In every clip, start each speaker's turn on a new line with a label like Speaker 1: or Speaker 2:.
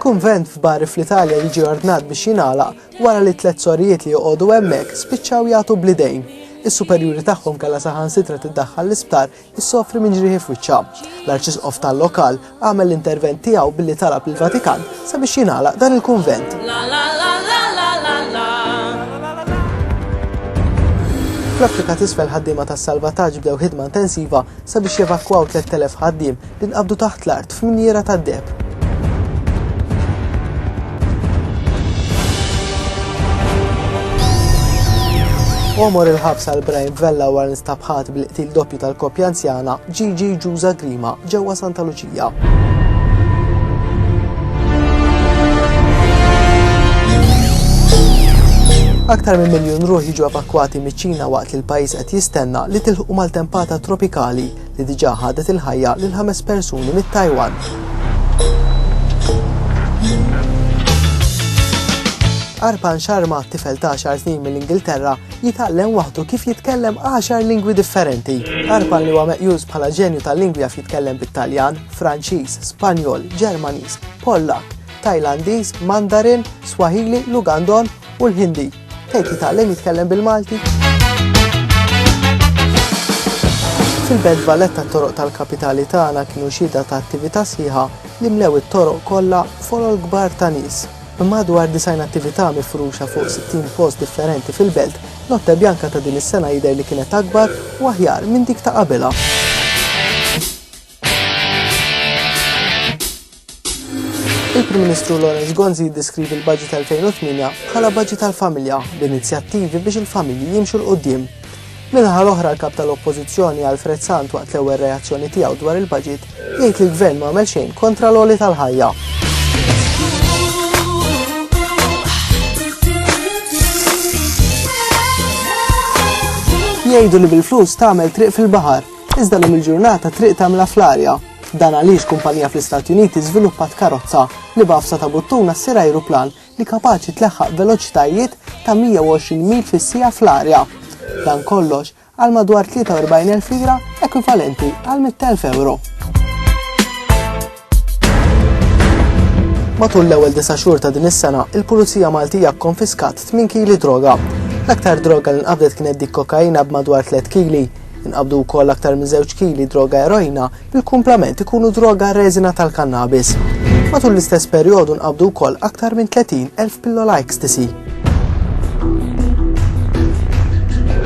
Speaker 1: Kunvent f'Bari fl-Italja jiġi ordnat biex jingħalaq wara li tliet sorijiet li joqogħdu hemmhekk spiċċaw jagħtu bl-idejn. Is-superjuri tagħhom kellha saħansitra tiddaħħal l-isptar issofri minn ġrieħi f'wiċċha. L-Arċisqof tal-lokal għamel l-intervent tiegħu billi talab lill-Vatikan sabiex jingħalaq dan il-kunvent. Fl-Afrika t'Isfel ħaddiema tas-salvataġġ bdew ħidma intensiva sabiex jevakwaw 3,000 ħaddiem li nqabdu taħt l-art f'mniera tad-deheb. Omor il-ħabs għal Brian Vella wara nstab ħadd bil-qtil doppju tal-koppja anzjana Gigi Ġuża Grima ġewwa Santa Luċija. Aktar minn miljun ruħ jiġu evakwati miċ-Ċina waqt li l-pajjiż qed jistenna li tilħu maltempata tropikali li diġà ħadet il-ħajja lil ħames persuni mit-Tajwan. Arpan Sharma, tifel ta' għaxar snin mill-Ingilterra, jitgħallem waħdu kif jitkellem għaxar lingwi differenti. Arpan li huwa meqjus bħala ġenju tal-lingwi jaf jitkellem bit-Taljan, Franċiż, Spanjol, Ġermaniż, Pollak, Tajlandiż, Mandarin, Swahili, Lugandon u l-Hindi. Tgħid li tgħallem jitkellem bil-Malti? Fil-Belt Valletta t-toroq tal-kapitali tagħna kienu xhieda ta' attività sħiħa li mlew it-toroq kollha folol kbar ta' nies. B'madwar disgħin attività mifruxa fuq 60 post differenti fil-belt, Notte Bianca ta' din is-sena jidher li kienet akbar u aħjar minn dik ta' qabilha. Il-Prim Ministru Lawrence Gonzi jiddeskrivi l-Baġit 2008 bħala baġit tal-familja b'inizjattivi biex il-familji jimxu l-qudiem. Minħa l-oħra l-kap tal-Oppożizzjoni Alfred Sant waqt l-ewwel reazzjoni tiegħu dwar il-baġit jgħid li l-gvern ma għamel xejn kontra l-għoli tal-ħajja. Jgħidu li bil-flus tagħmel triq fil-baħar Iżda lum il-ġurnata triq tagħmilha fl-arja. Dan għaliex kumpanija fl-Istati Uniti żviluppat karozza li b'għafsa ta' buttuna ssir ajruplan li kapaċi tleħħaq veloċitajiet ta' 120 mil fis-siegħa fl-arja. Dan kollox għal madwar 43,000 lira ekwivalenti għal 100,000 ewro. Matul l-ewwel disa' xhur ta' din is-sena, il-Pulizija Maltija kkonfiskat 8 kili droga. L-aktar droga li nqabdet kienet dik kokaina b'madwar 3 kili. Inqabdu wkoll aktar minn żewġ kili droga eroina li l-kumplament ikunu droga reżina tal-kannabis. Matul l-istess perjodu nqabdu wkoll aktar minn 30 elf pillola ecstasy.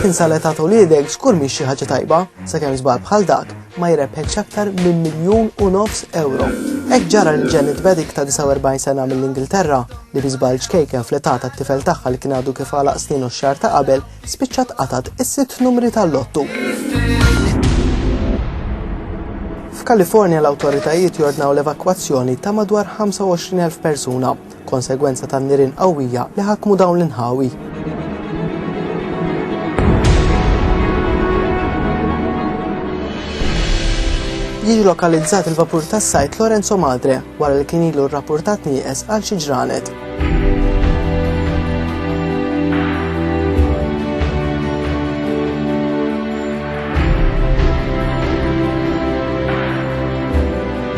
Speaker 1: Tinsa l-età ta' uliedek żgur mhix xi ħaġa tajba, sakemm żball bħal dak ma jrebħetx aktar minn miljun u nofs ewro. Hekk ġara lil Janet Beddick ta' 49 sena mill-Ingilterra, li bi żball ċkejken fl-età tat-tifel tagħha li kien għadu kif għalaq snienu x-xahar ta' qabel, spiċċat qatgħet is-sitt numri tal-lottu. F'Kalifornja l-awtoritajiet jordnaw l-evakwazzjoni ta' madwar 25,000 persuna. konsegwenza tan-nirien qawwija li ħakmu dawn l-inħawi. Jiġi lokalizzat il-vapur tas-sajt Lorenzo Madre wara li kien ilu rrappurtat nieqes għal xi ġranet.